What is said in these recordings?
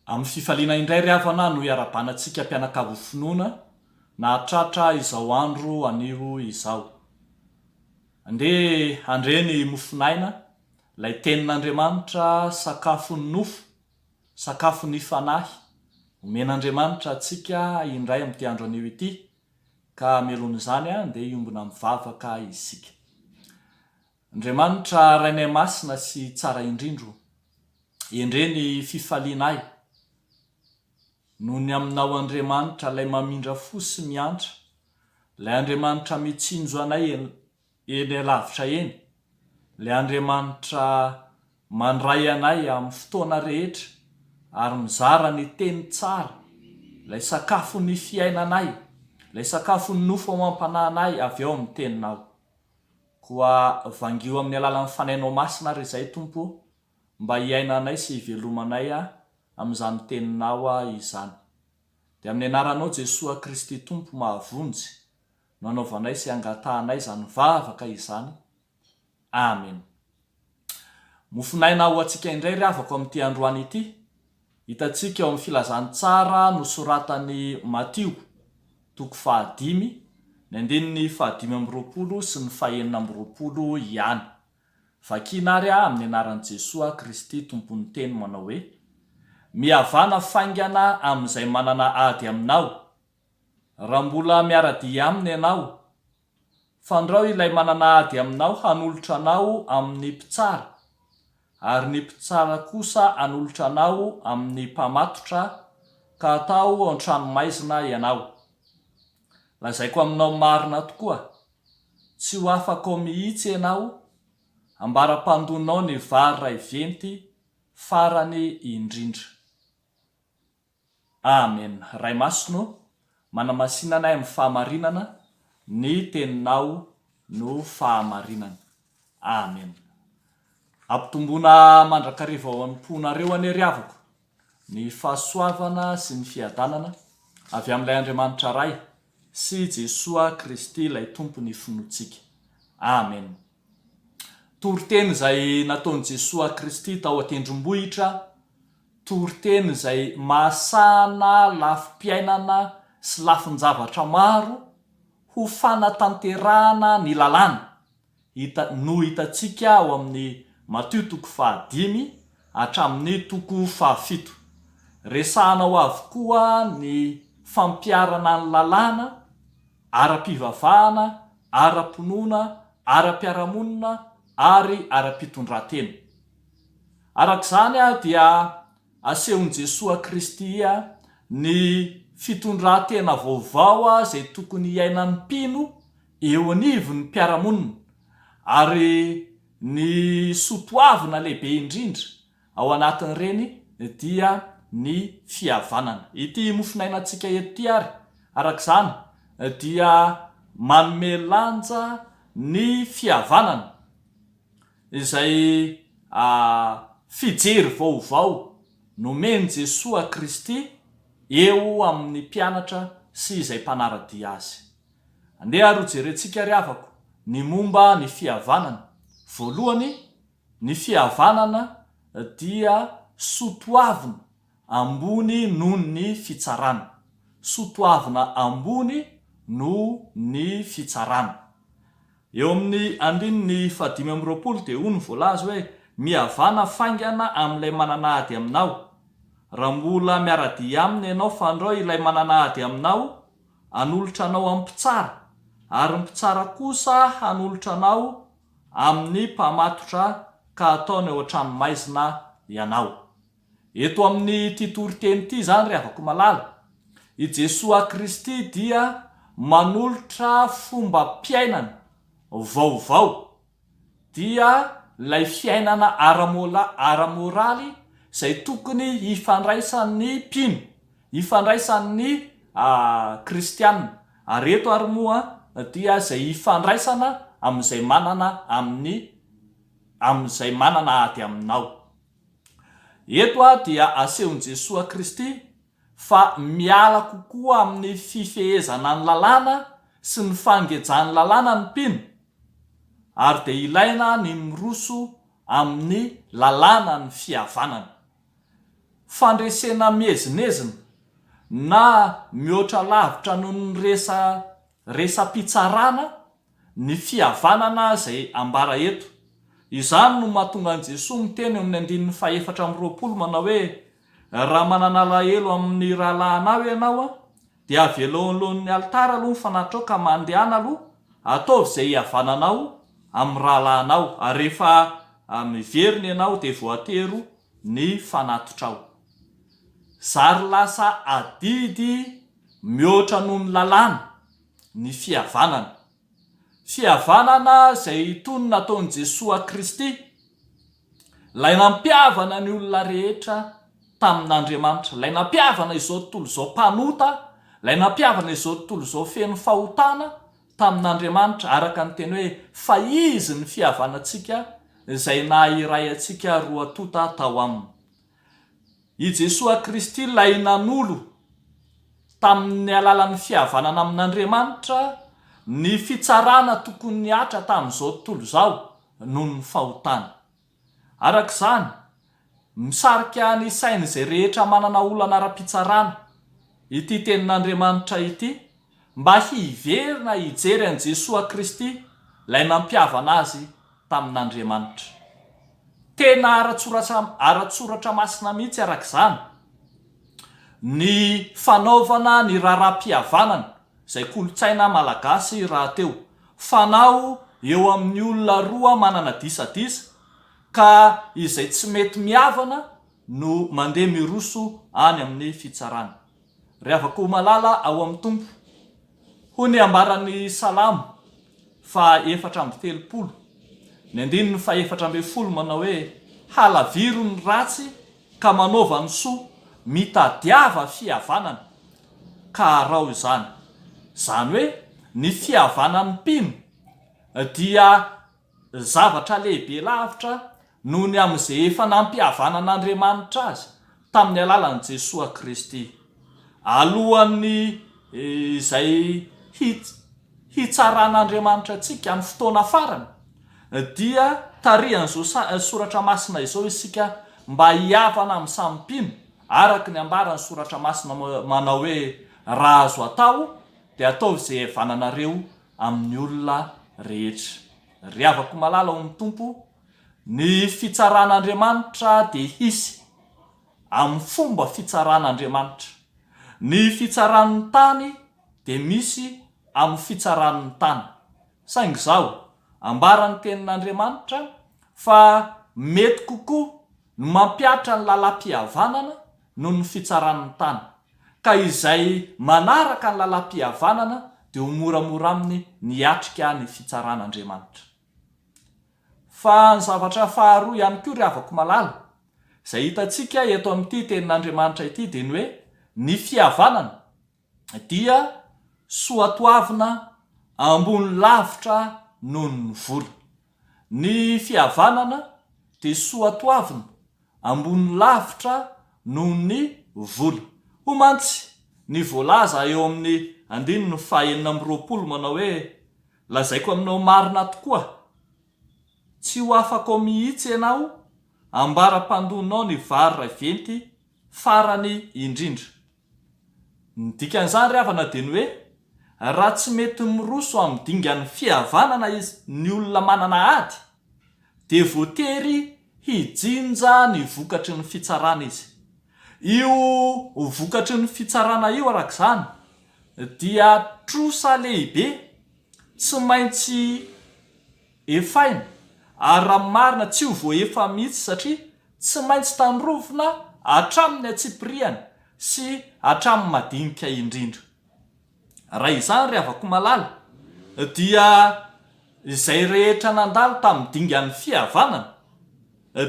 Amin'ny fifaliana indray ry havana no iarabanantsika mpianakavy finoana nahatratra izao andro anio izao. Andeha handre ny mofon'aina, ilay Tenin'Andriamanitra, sakafon'ny nofo, sakafon'ny fanahy, omen'Andriamanitra antsika indray amin'ity andro anio ity, ka mialohan'izany andeha hiombona mivavaka isika. Andriamanitra Rainay Masina sy Tsara Indrindra o, endrey ny fifalianay no ny Aminao Andriamanitra Ilay mamindra fo sy miantra, Ilay Andriamanitra mitsinjo anay eny alavitra eny, Ilay Andriamanitra mandray anay amin'ny fotoana rehetra ary mizara ny teny tsara, Ilay sakafon'ny fiainanay, Ilay sakafon'ny nofo amam-panahinay avy ao amin'ny Teninao. Koa vangio amin'ny alalan'ny Fanainao Masina ary izay, Tompo ô, mba hiainanay sy hivelomanay amin'izany Teninao izany. Dia amin'ny Anaranao Jesoa Kristy Tompo mahavonjy no anaovanay sy angatahanay izany vavaka izany. Amena. Mofonaina ho antsika indray ry havako amin'ity androany ity. Hitantsika eo amin'ny Filazantsara nosoratan'i Matio, toko fahadimy, ny andininy fahadimy amby roapolo sy ny fahenina amby roapolo ihany. Vakiana ary aho amin'ny anaran'i Jesoa Kristy Tompon'ny Teny manao hoe, Mihavana faingana amin'izay manana ady aminao. Raha mbola miara-dia aminy ianao, Fandrao ilay manana ady aminao hanolotra anao amin'ny mpitsara, ary ny mpitsara kosa hanolotra anao amin'ny mpamatotra, ka atao ao an-tranomaizina ianao. Lazaiko aminao marina tokoa, tsy ho afaka ao mihitsy ianao ambara-pandonao ny vary iray venty farany indrindra. Amen Ray Masina ô manamasina anay amin'ny fahamarinana ny teninao no fahamarinana Amen Ampitomboina mandrakariva ao amponareo anie ry havako ny fahasoavana sy ny fiadanana avy amin'ilay Andriamanitra Ray sy Jesoa Kristy ilay Tompon'ny finoantsika Amen Toriteny izay nataon'i Jesoa Kristy tao an-tendrombohitra, toriteny izay mahasahana lafim-piainana sy lafin-javatra maro ho fanatanterahana ny lalàna, hita no hitantsika ao amin'ny Matio toko fahadimy hatramin'ny toko fahafito. Resahana ao avokoa ny fampiharana ny lalàna, ara-pivavahana, ara-pinoana, ara-piarahamonina ary ara-pitondran-tena. Araka izany dia asehon'i Jesoa Kristy ny fitondran-tena vaovao izay tokony hiainan'ny mpino eo anivon'ny mpiara-monina ary ny soatoavina lehibe indrindra Ao anatin'ireny dia ny fihavanana. Ity mofon'ainantsika eto ity ary, araka izany, dia manome lanja ny fihavanana, izay fijery vaovao nomen'i Jesoa Kristy eo amin'ny mpianatra sy izay mpanara-dia Azy. Andeha ary hojerentsika ry havako ny momba ny fihavanana. Voalohany, Ny fihavanana dia soa toavina ambony noho ny fitsarana. Soa toavina ambony noho ny fitsarana. Eo amin'ny andininy fahadimy amby roapolo dia hoy ny voalaza hoe, Mihavana faingana amin'ilay manana ady aminao. Raha mbola miara-dia aminy ianao fandrao ilay manana ady aminao hanolotra anao amin'ny mpitsara, ary ny mpitsara kosa hanolotra anao amin'ny mpamatotra ka ataony ao an-tranomaizina ianao. Eto amin'ity toriteny ity izany ry havako malala, i Jesoa Kristy dia manolotra fombam-piainana vaovao, dia ilay fiainana ara-moraly izay tokony hifandraisan'ny mpino, hifandraisan'ny kristiana Ary eto ary moa dia izay hifandraisana amin'izay manana amin'ny amin'izay manana ady aminao. Eto ary dia asehon'i Jesoa Kristy fa miala kokoa amin'ny fifehezana ny lalàna sy ny fangejan'ny lalàna ny mpino ary dia ilaina ny miroso amin'ny lalànan'ny fihavanana. fandresena miezinezina na mihoatra lavitra noho ny resaresam-pitsarana ny fihavanana izay ambara eto. Izany no mahatonga an'i Jesoa miteny eo amin'ny andininy fahefatra amby roapolo manao hoe, Raha manana alahelo amin'ny rahalahinao ianao, Dia avelao eo anoloan'ny alitara aloha ny fanatrao ka mandehana aloha, ataovy izay hihavananao amin'ny rahalahinao, ary rehefa miverina ianao dia voatero ny fanatotrao. Zary lasa adidy mihoatra noho ny lalàna ny fihavanana. Fihavanana izay tony nataon'i Jesoa Kristy, Ilay nampihavana ny olona rehetra tamin'Andriamanitra, Ilay nampihavana izao tontolo izao mpanota, Ilay nampihavana izao tontolo izao feno fahotana tamin'Andriamanitra, araka ny teny hoe, Fa Izy ny fihavanantsika, izay naha iray antsika roa tonta tao Aminy. I Jesoa Kristy ilay nanolo tamin'ny alalan'ny fihavanana amin'Andriamanitra ny fitsarana tokony nihatra tamin'izao tontolo izao noho ny fahotana. Araka izany, misarika ny sain'izay rehetra manana olana ara-pitsarana ity tenin'Andriamanitra ity mba hiverina hijery an'i Jesoa Kristy ilay nampihavana azy tamin'Andriamanitra. Tena ara-tsoratra ara-tsoratra masina mihitsy araka izany ny fanaovana ny raharaham-pihavanana izay kolontsaina malagasy rahateo, fanao eo amin'ny olona roa manana disadisa ka izay tsy mety mihavana no mandeha miroso any amin'ny fitsarana. Rehavako ho malala ao amin'ny Tompo. Hoy ny ambaran'ny Salamo fahaefatra amby telopolo, ny andininy fahefatra ambin'ny folo manao hoe, Halaviro ny ratsy ka manaova ny soa, mitadiava fihavanana ka arao izany. Izany hoe ny fihavanan'ny mpino dia Zavatra lehibe lavitra noho ny amin'izay efa nampihavanan'Andriamanitra azy tamin'ny alalan'i Jesoa Kristy. Alohan'ny izay hitsaran'Andriamanitra antsika amin'ny fotoana farany, dia tarihan'izao soratra masina izao isika mba hihavana amin'ny samy mpino, araka ny ambaran'ny soratra masina manao hoe, Raha azo atao, dia ataovy izay hihavananareo amin'ny olona rehetra. Ry havako malala ao amin'ny Tompo, ny fitsaran'Andriamanitra dia hisy amin'ny fomba fitsaran'Andriamanitra. Ny fitsaran'ny tany dia misy amin'ny fitsaran'ny tany. Saingy izao, ambaran'ny Tenin'Andriamanitra fa mety kokoa no mampihatra ny lalam-pihavanana noho ny fitsaran'ny tany, ka izay manaraka ny lalam-pihavanana dia ho moramora aminy ny hiatrika ny fitsaran'Andriamanitra. Fa ny zavatra faharoa ihany koa ry havako malala, izay hitantsika eto amin'ity tenin'Andriamanitra ity dia ny hoe, ny fihavanana, dia soatoavina ambony lavitra noho ny vola. Ny fihavanana dia soatoavina ambony lavitra noho ny vola. Hoy mantsy ny voalaza eo amin'ny andininy fahenina amby roapolo manao hoe, Lazaiko aminao marina tokoa, tsy ho afakao mihitsy ianao ambara-pandonao ny vary raiventy farany indrindra. Ny dikan'izany ry havana dia ny hoe, raha tsy mety miroso amin'ny dingan'ny fihavanana izy ny olona manana ady, dia voatery hijinja ny vokatry ny fitsarana izy. Io vokatry ny fitsarana io araka izany dia trosa lehibe tsy maintsy. Efaina, ary raha marina tsy ho voaefa mihitsy satria tsy maintsy tandrovina hatramin'ny antsipiriany sy hatramin'ny madinika indrindra. Raha izany ry havako malala dia izay rehetra nandalo tamin'ny dingan'ny fihavanana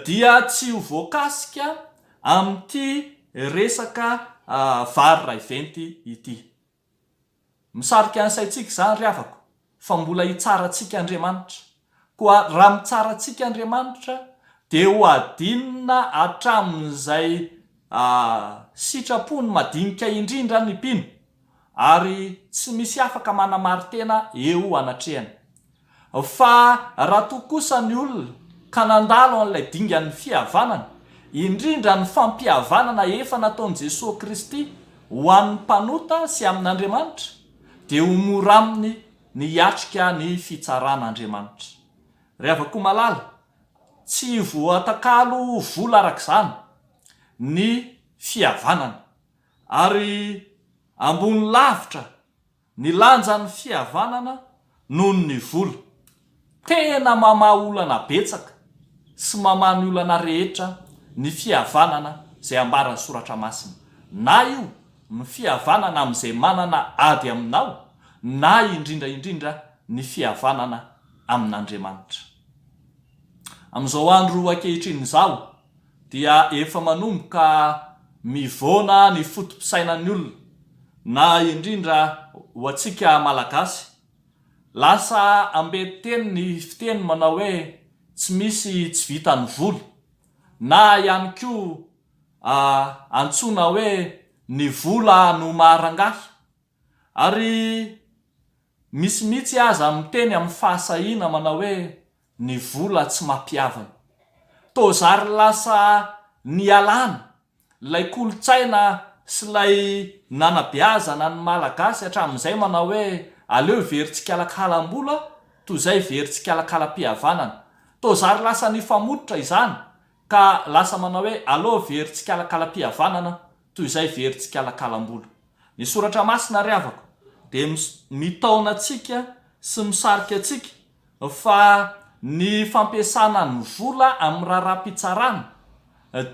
dia tsy ho voakasika amin'ity resaka vary raiventy ity. Misarika ny saintsika izany ry havako fa mbola hitsara antsika Andriamanitra. Koa raha mitsara antsika Andriamanitra dia ho adinina hatramin'izay sitrapony madinika indrindra ny mpino ary tsy misy afaka manamari-tena eo anatrehany. Fa raha toa kosa ny olona ka nandalo an'ilay dingan'ny fihavanana, indrindra ny fampihavanana efa nataon'i Jesoa Kristy ho an'ny mpanota sy amin'Andriamanitra, dia ho mora aminy ny hiatrika ny fitsaran'Andriamanitra. Ry havako malala, tsy voatakalo ho vola arak'izany ny fihavanana, ary ambony lavitra, Ny lanjan'ny fihavanana noho ny vola. Tena mamaha olana betsaka sy mamaha ny olana rehetra ny fihavanana izay ambaran'ny soratra masina. Na io ny fihavanana amin'izay manana ady aminao na indrindra indrindra ny fihavanana amin'Andriamanitra. Amin'izao andro ankehitriny izao. dia efa manomboka mivoana ny foto-pisainan'ny olona, na indrindra ho antsika Malagasy. Lasa amben-teny ny fiteny manao hoe tsy misy tsy vitan'ny vola, na ihany koa antsoina hoe ny vola no maha-rangahy. Ary misy mihitsy aza miteny amin'ny fahasahiana manao hoe ny vola tsy mampihavana. Toa zary lasa nialana ilay kolontsaina sy ilay nanabeazana ny Malagasy hatramin'izay manao hoe aleo very tsikalakalam-bola toy izay very tsikalakalam-pihavanana. Toa zary lasa nifamototra izany ka lasa manao hoe aleo very tsikalakalam-pihavanana toy izay very tsikalakalam-bola. Ny Soratra Masina ry havako dia mitaona antsika sy misarika antsika fa ny fampiasana ny vola amin'ny raharaham-pitsarana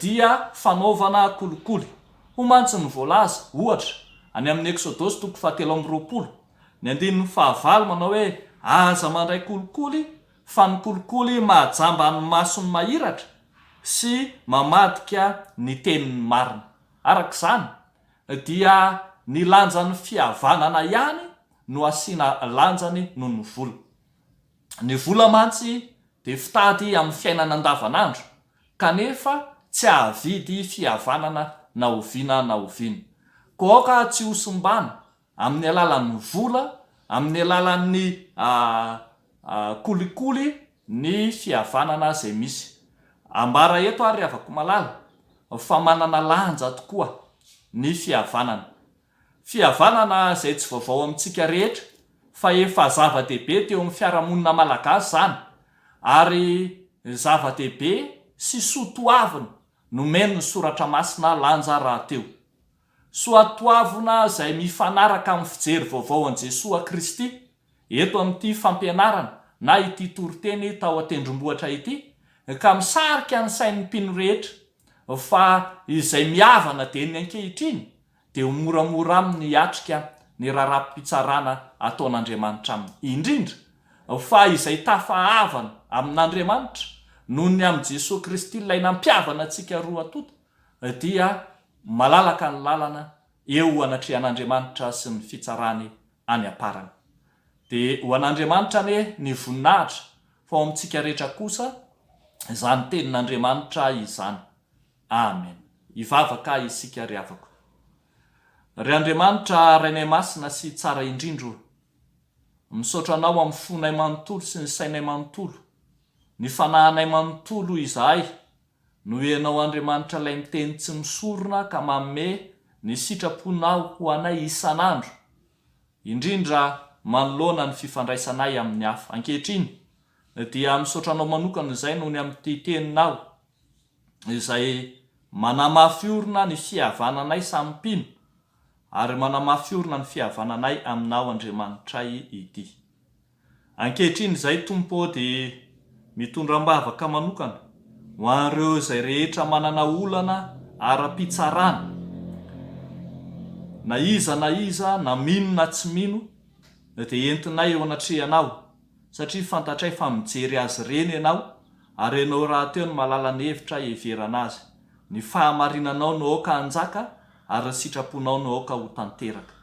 dia fanaovana kolikoly. Hoy mantsy ny voalaza, ohatra, any amin'ny Eksodosy toko fahatelo amby roapolo, ny andininy fahavalo manao hoe, Aza mandray kolikoly, fa ny kolikoly mahajamba ny mason'ny mahiratra sy mamadika ny tenin'ny marina. Araka izany, dia ny lanjan'ny fihavanana ihany no asiana lanjany noho ny vola. Ny vola mantsy dia fitady amin'ny fiainana andavanandro kanefa tsy hahavidy fihavanana na oviana na oviana. Koa aoka tsy hosimbana amin'ny alalan'ny vola, amin'ny alalan'ny kolikoly ny fihavanana izay misy. Ambara eto ary ry havako malala fa manana lanja tokoa ny fihavanana. Fihavanana izay tsy vaovao amintsika rehetra fa efa zava-dehibe teo amin'ny fiarahamonina malagasy izany ary zava-dehibe sy soa toavina nomen'ny soratra masina lanja rahateo. Soatoavina izay mifanaraka amin'ny fijery vaovao an'i Jesoa Kristy eto amin'ity fampianarana na ity toriteny tao an-tendrombohitra ity, ka misarika ny sain'ny mpino rehetra fa izay mihavana dia ny ankehitriny dia ho moramora aminy hiatrika ny raharaham-pitsarana ataon'Andriamanitra aminy, indrindra fa izay tafahavana amin'Andriamanitra noho ny amin'i Jesoa Kristy ilay nampihavana antsika roa tonta. dia malalaka ny lalana eo anatrehan'Andriamanitra sy ny fitsarany any am-parany. Dia ho an'Andriamanitra anie ny voninahitra, fa ho amintsika rehetra kosa izany tenin'Andriamanitra izany. Amen. Hivavaka isika ry havako. Ry Andriamanitra Rainay Masina sy Tsara indrindra o! Misaotra Anao amin'ny fonay manontolo sy ny sainay manontolo, ny fanahinay manontolo izahay Noho Ianao Andriamanitra Ilay Miteny Tsy Misorona ka Manome ny Sitraponao ho anay isan'andro, indrindra manoloana ny fifandraisanay amin'ny hafa. Ankehitriny, dia misaotra Anao manokana izay noho ny amin'ity Teninao izay manamafy orina ny fihavananay samy mpino ary manamafy orina ny fihavananay Aminao Andriamanitray ity. Ankehitriny izay Tompo ô dia mitondra ambavaka manokana ho an'ireo izay rehetra manana olana ara-pitsarana na iza na iza na mino na tsy mino dia entinay eo anatrehanao satria fantatray fa mijery azy ireny ianao ary ianao rahateo no malala ny hevitra hiheverana azy. Ny fahamarinanao no aoka hanjaka ary ny sitraponao no aoka ho tanteraka.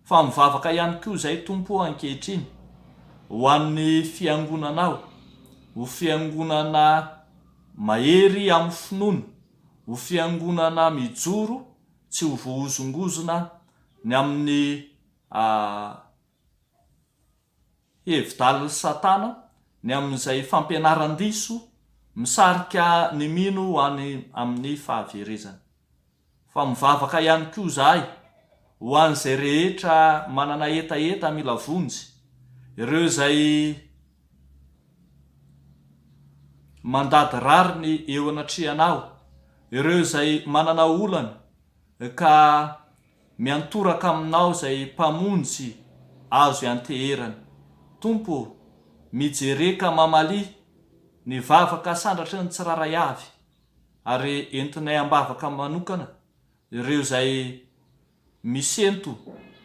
Fa mivavaka ihany koa izay Tompo ô ankehitriny ho an'ny Fiangonanao, ho Fiangonana mahery amin'ny finoana, ho Fiangonana mijoro tsy ho voahozongozona ny amin'ny Hevi-dalin'i Satana ny amin'izay fampianaran-diso misarika ny mino ho any amin'ny fahaverezana. Fa mivavaka ihany koa izahay ho an'izay rehetra manana hetaheta mila vonjy, ireo izay mandady rariny eo anatrehanao, ireo izay manana olana ka Miantoraka aminao izay Mpamonjy azo ianteherana. Tompo ô, mijereka mamalia ny vavaka sandratry ny tsirairay avy, ary entinay am-bavaka manokana ireo izay misento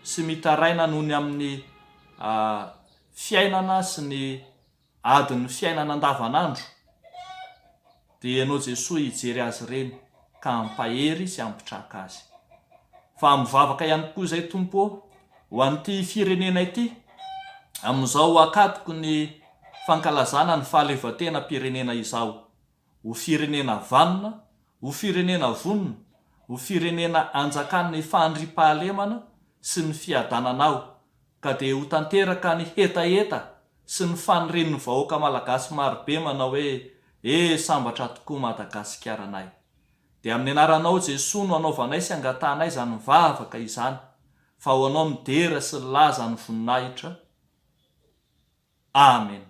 sy mitaraina noho ny amin'ny fiainana sy ny Adin'ny fiainana andavanandro dia ianao Jesoa hijery azy ireny ka hampahery sy hampitraka azy. Fa mivavaka ihany koa izay Tompo ô, ho an'ity firenena ity, amin'izao akatoky ny fankalazana ny fahaleovantenam-pirenena izao. ho firenena vanona, ho firenena vonona, ho firenena anjakan' ny fandriam-pahalemana sy ny fiadanana ao ka dia ho tanteraka ny hetaheta sy ny fanirin' ny vahoaka malagasy marobe manao hoe E! sambatra tokoa Madagasikaranay. Dia amin' ny anaranao Jesoa no anaovanay sy angatahanay izany vavaka izany fa ho anao ny dera sy ny laza ny voninahitra. Amena.